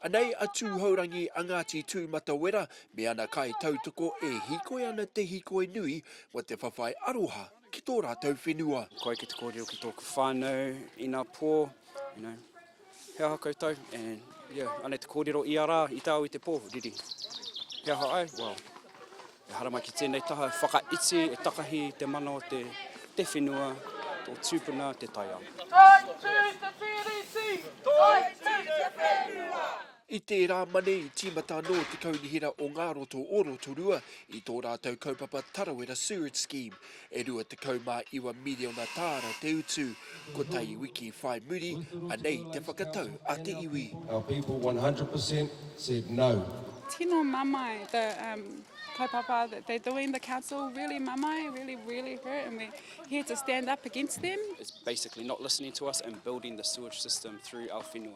Anei a Tūhourangi a Ngāti Tūmatawera me ana kaitautoko e hīkoi ana te hīkoi nui mō te whawhai aroha ki tō rātou whenua. Koe ki te kōrero ki tōku whānau, inapō, you know. He aha koutou and yeah, anei te kōrero ia rā i te ao i te pō, riri. He aha ai? Well, e haramai ki tēnei taha, whakaiti, e takahi te mana o te, te whenua, tō tūpuna, te taiao. Taitū te tiriti! Taitū te whenua! I tērā mane i tīmata anō te Kaunihera o Ngā Roto o Rotorua i tō rātou kaupapa Tarawera Sewerage Scheme, e 29 miriona tāra te utu, kotahi wiki whai muri, anei te whakatau a te iwi. Our people 100 per cent said no. Tino mamae the um kaupapa that they're doing, the council, really mamae, really, really hurt and we're here to stand up against them. is basically not listening to us and building the sewage system through our whenua.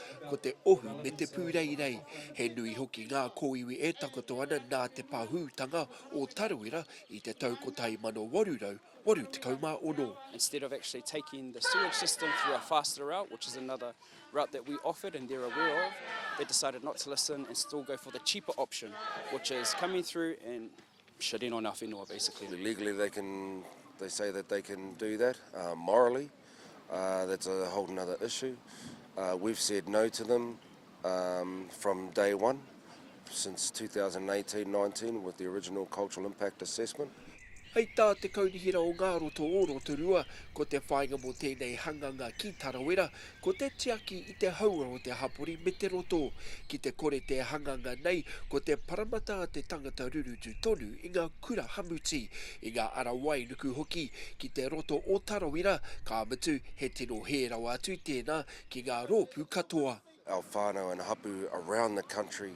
Ko te ohu me te pūreirei, he nui hoki ngā kōiwi e takoto ana nā te pahūtanga o Tarawera i te tau 1886. Instead of actually taking the sewage system through a faster route, which is another route that we offered and they're aware of, they decided not to listen and still go for the cheaper option, which is coming through and shit in on our whenua basically. Legally they can, they say that they can do that, morally that's a whole another issue. We've said no to them from day one since 2018-19 with the original cultural impact assessment. Hei tā te Kaunihera o Ngāroto o Rotorua, ko te whāinga mō tēnei hanganga ki Tarawera, Ko te tiaki i te hauora o te hapori me te roto. Ki te kore te hanganga nei, ko te paramata a te tangata rurutu tonu i ngā kura hamuti, i ngā ara wainuku hoki, ki te roto o Tarawira, ka mutu, he tino hē rawa atu tēnā ki ngā rōpū katoa. Our whānau and hapu around the country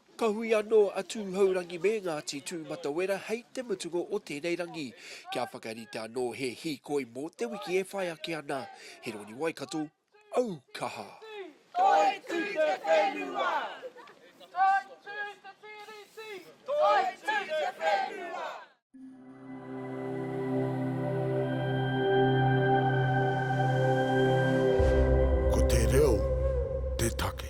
Ka hui anō a Tūhourangi me Ngāti Tūmatawera hei te mutunga o tēnei rangi, kia whakarite anō he hīkoi mō te wiki e whai ake ana. Heroni Waikato, Aukaha! Toitū te whenua! Toitū te Tiriti! Toitū te whenua! Ko te reo te take.